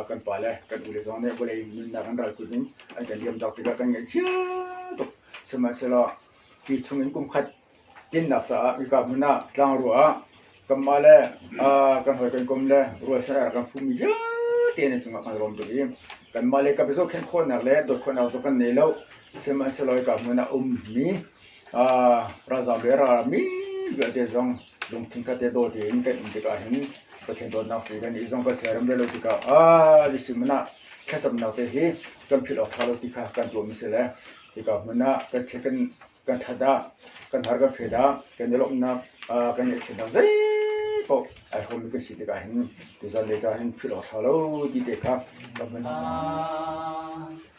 kan pale kan ule zong nih vawlei nunnak an ral tluk in an kan liam dok tikah kan ngaih cia tuk. Sihmahsehlaw hi chungin kumkhat tinnak caah hika hmun ah tlangrua ah kanmah le kan hawi kan kom le rualchan ar kan phumi vialte nan cungah kan rom tuk i kanmah le ka biazo khenh khawhnak le dawt khawhnak zong kan nei lo. Sihmahsehlaw hika hmun ah ummi Ralzaam le ralram min vialte zong lungthin kha te daw tein kan in tikah hin Pathian dawtnak sii kan i zong kan siarem ve lo tikah a Jesuh min ah thlacamnak te hi kan philh awk ṭha lo ti kha kan tuahmi si le tikah hmun ah kan check kan kan ṭhat ah kan har kan phet ah kan i lawmhnak kan i ngaihchiatnak zeipaoh ai hawmi kan si tikah hin tuzan le ca hin philh awk ṭha lo ti te kha kan hman hna.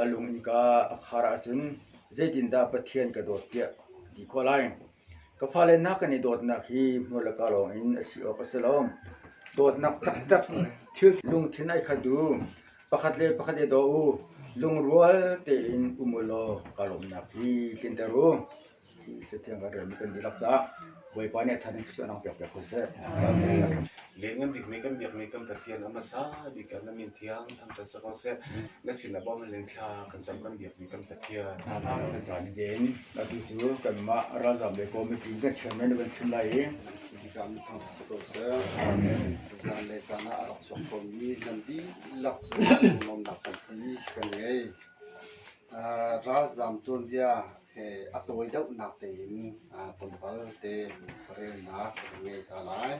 A lung innka a khar ahcun zeitindah Pathian ka dawt tiah ti khawh lai. Ka fale hna kan i dawtnak hi hmual le ka lawngin a si awk a si lo. Dawtnak taktak thil lungthin ai khat u. Pakhat le pakhat i daw u. Lungrual tein um u law kaa lawmhnak hi tlinter u. Cathiang kan relmi kan dihlak caah Bawipa nih a than in thil a lang piakpiak ko seh. Leng kan bikmi kan biakmi kan Pathian a hmasa bik kan la min thiang thang ta sa ko seh. Na sin a bawm leng thla kan cam kan biakmi kan Pathian. Kan caan i den atu cu kanmah ralzam le kawmipi kan chairman na van chim lai i kan thang sa ko seh. Kan le caan ah a rak chuak khomi nan dihlak cu nunnak kan kan ngei. Ralzaam tuanbia he a tawi deuhnak tein tonbal te relnak kan ngei hna lai.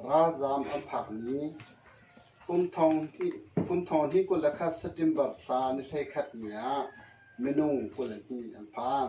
Ralzaam an phakmi phunthawng phunthawng hnih kul le khat September thla ni hlei khatni ah minung kul hnih an phan.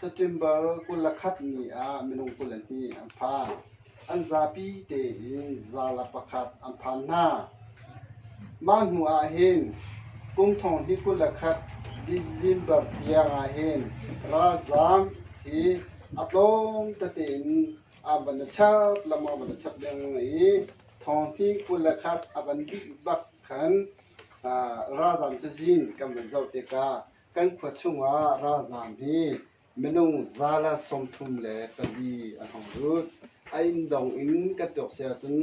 September kul le khat ni ah minung kul le hnih an phan. An zapi tein zarla pakhat an phan hna. Mah hnu ah hin kum thong hnih kul le khat December tiang ah hin ralzaam hi a tlawm tete in an van i chap lengmang a van i chap lengmang i thong hnih kul le khat a van dih bak khan ralzaam cazin kan van zoh tikah Kan khua chungah ralzaam hi minung zala sawmthum le pali an hung lut. A inn dong in kan tuak si ahcun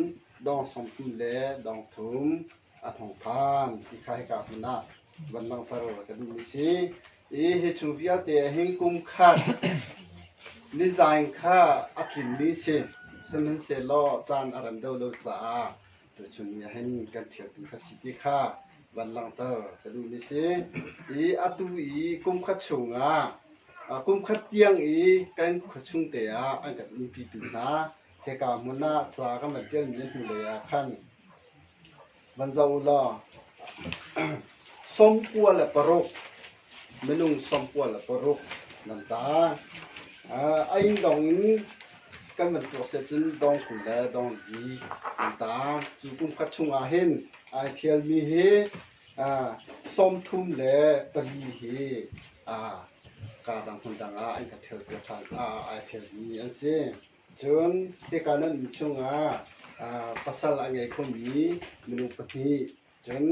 dawng sawmthum le dawng thum an hung phan. Hika hika hmun ah van langfar a kan duhmi si. I hi cu vialte ahhin kum khat nizaan kha a tlinmi si. Sihmanhsehlaw caan a rem deuh lo caah Tuchun nih hin kan ṭhialtu ka si ti kha van langhter ka duh ni si. I atu i kumkhat chungah kumkhat tiang i kan khuachung te ah an kan umpitu hna he ka hmun ah ca kan van ṭialmi na hnu lei ah khan van zoh u law sawmkua le paruk Minung sawmpual a paruk nan tar. A inn dong in kan van tuah seh cun dong kul le dong li an tar. Cu kum khat chungah hin ai ṭhialmi hi sawmthum le pali hi kaa dang hmundang ah an ka ṭhialpiak ṭhan ai ṭhialmi an si. Cun hika nan inn chungah pasal a ngei khomi minung pahnih cun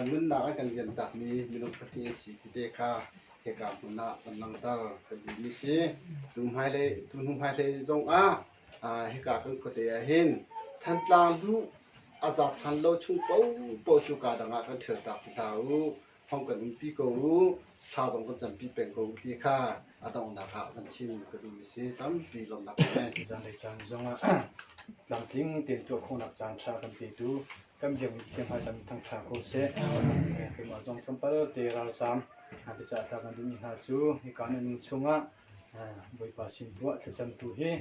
Nunnak a kan liam takmi minung pahnih an si tete kha hika hmun ah kan langhter. Kan duhmi si. Tu hmailei, tu hnu hmailei zongah hika kan khuate ah hin Thantlang luh a za than lo chung paohpaoh cu kaa dang ah kan thial tak ti hlah u. Thong kan umpi ko u. Thla zong kan campi peng ko u ti kha a donghnak ah kan chim ka duhmi si. Tampi lawmnak kan ngei. Zanlei caan zongah tlamtling tein tuah khawhnak caan tha kan pe tu kan biak mi khi hmaisam in thang ṭha ko seh. Keimah zong tlawmpalte ralzaam biacah ta kan duhmi hna cu hika na nun chungah Bawipa sin tuah thlacamtu hi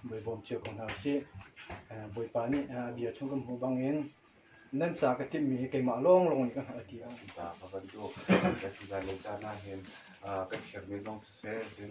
Bawi bawm cio ko hna usih. Bawipa nih a bia chung kan hmuh bangin nan ca ka timmi hi keimah lawnglawng nih ka hngalh ti a um ta ka bantuk kan ti lai lo caan ahhin kan thiam men lawng siseh, cun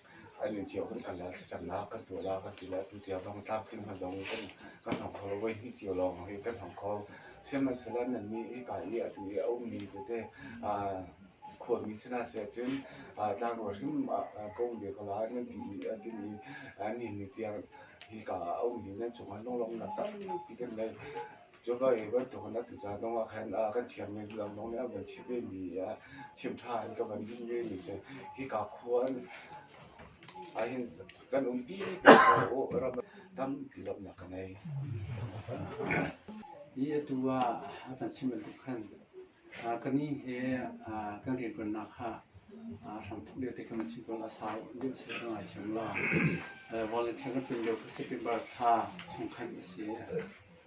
An inn cio kan kal le thlacamnak kan tuah la kan ti le atu tiang lawng tlamtling hmandong in kan hong hal voi hnih cio lawng hi kan hong kho. Sihmanhsehlaw nannih hika i atu i a ummi tete aa khuami sinah seh cun aa tlangrual hrim ah ka um ve ko lai nan ti i a tin i an inn i tiang hika a ummi nan cungah lunglawmhnak tampi kan ngei. Cuka i bantuk in a tu ca zong ah khan kan thiammi zulong zong nih an van chimh vemi chim ṭha in ka van din vemi cu hika khua an ahhin kan umpi ko u ram tampi lawmhnak ka ngei. Hi atu ah a kan chim bantuk khan ka ni he kan rianṭuannak kha hram tuk lio te kan chim ko la sau deuh si ka ngai thiam lo. Volunteer kan tlun lio kha September thla chung khan a si.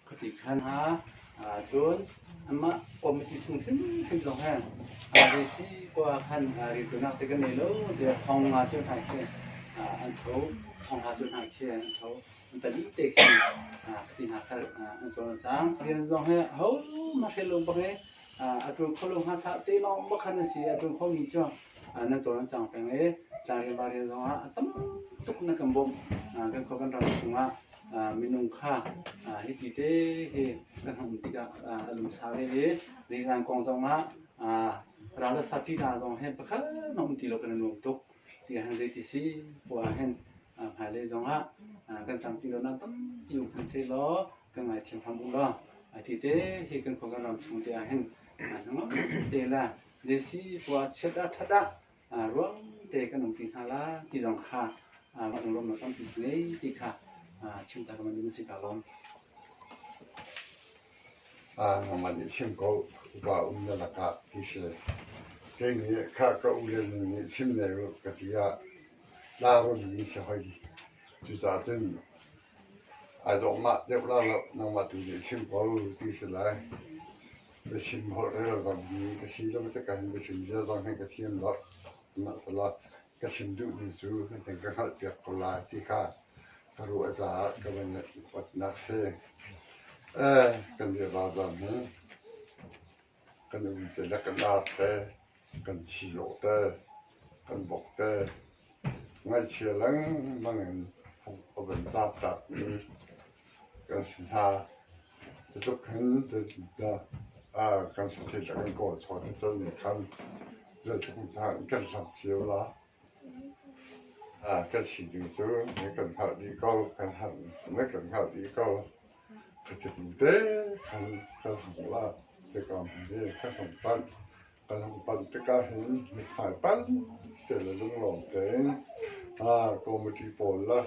Khuati khan hna cun anmah kawmiṭi phung hrimhrim zong he risi khua ah khan rilṭuanak te kan ngei lo tiah thawng nga cu hna khi an tho, thawng hla cu hna khi an tho. Talite khan khuti hna kha an cawn a cang. Rian zong he ahohmanh hrial lo bak i A tlun kho lo hnga chah te lawng bak khan a si i a tlun khomi cu nan cawn an cang peng i tlangrian varian zongah a tam tuk na kan bawmh kan khuaban ram chungah minung kha hiti te hi kan hung um tikah a lumsa ve le nizan kong zongah ralasa pi hna zong hen pakhat na um ti lo kan nuam tuk ti han zei ti si pua hen hmailei zongah kan tang ti lo na tampi um kan sei law kan ngaithiam hram u law a ti te hi kan khua kan ram chung te ah hin te la desi tua chiat a that ah ruang te kan um pi hna la ti zong kha van rom na tampi ngei ti kha chimta ka man si ka lom a ngama nih chim ko ba um na laka ti se kei nih kha ka u le nih chim ne ru ka ti a la ron ni se hoi cuta cun Ai dawh mah deuh ralloh nangmah tu nih chim ko ti a si lai. Biachim holh rel zong hi ka si lo maw ka hin biachim ziar zong hi ka thiam lo. Sihmanhsehlaw ka chim duhmi cu nihin ka hngalhpiak ko lai ti kha ka ruah caah ka van upat nak si. Kan biavazam hi Kan innte le kan ar te, kan sii-awh te, kan bok te, ngaihchia lengmang in pumh a van tlaktlakmi kan si hna. Cutluk hin kan sathil a kan kawl chawt cun nih khan zeitluk hna in kan hlam cio la. Kan si ding cu na kan hngah dih ko, na kan hngah dih ko. Khathiam te kan hung la tikah kan hung panh. Kan hung panh tikah hin mithmai pante le lunglawm tein committee pawl le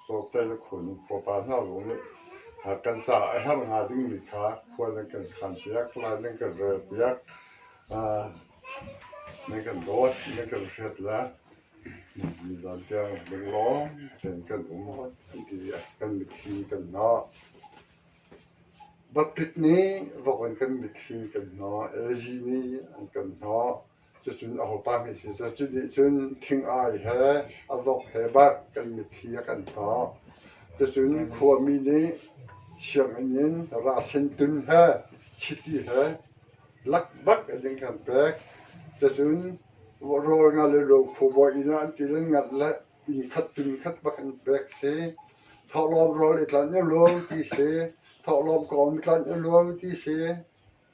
Tlawmte na khun, khuapa hna zong nih kan caah a herh hnga dingmi kha khua nan kan khanpiak, hlai nan kan relpiak, nan kan dawt, nan kan hret le nizan tiang lunglawm tein kan um an ti i kan mitthli kan hnawh. Baptist nih vok in kan mitthli kan hnawh, AG nih an kan hnawh. Cucun aho pa nih sih cu nih cun thing-ai he a vok he barh kan mitthli a kan tawh. Cucun khuami nih sianginn in rasen tun he chiti he lak bak in an kan pek. Cucun rawl nga le lophu bawi inn ah an til an ngalh le inn khat tun khat bak an pek si. Thawhlawm rawl i tlanh u law ti si. Thawhlawm kong i tlanh u law ti si.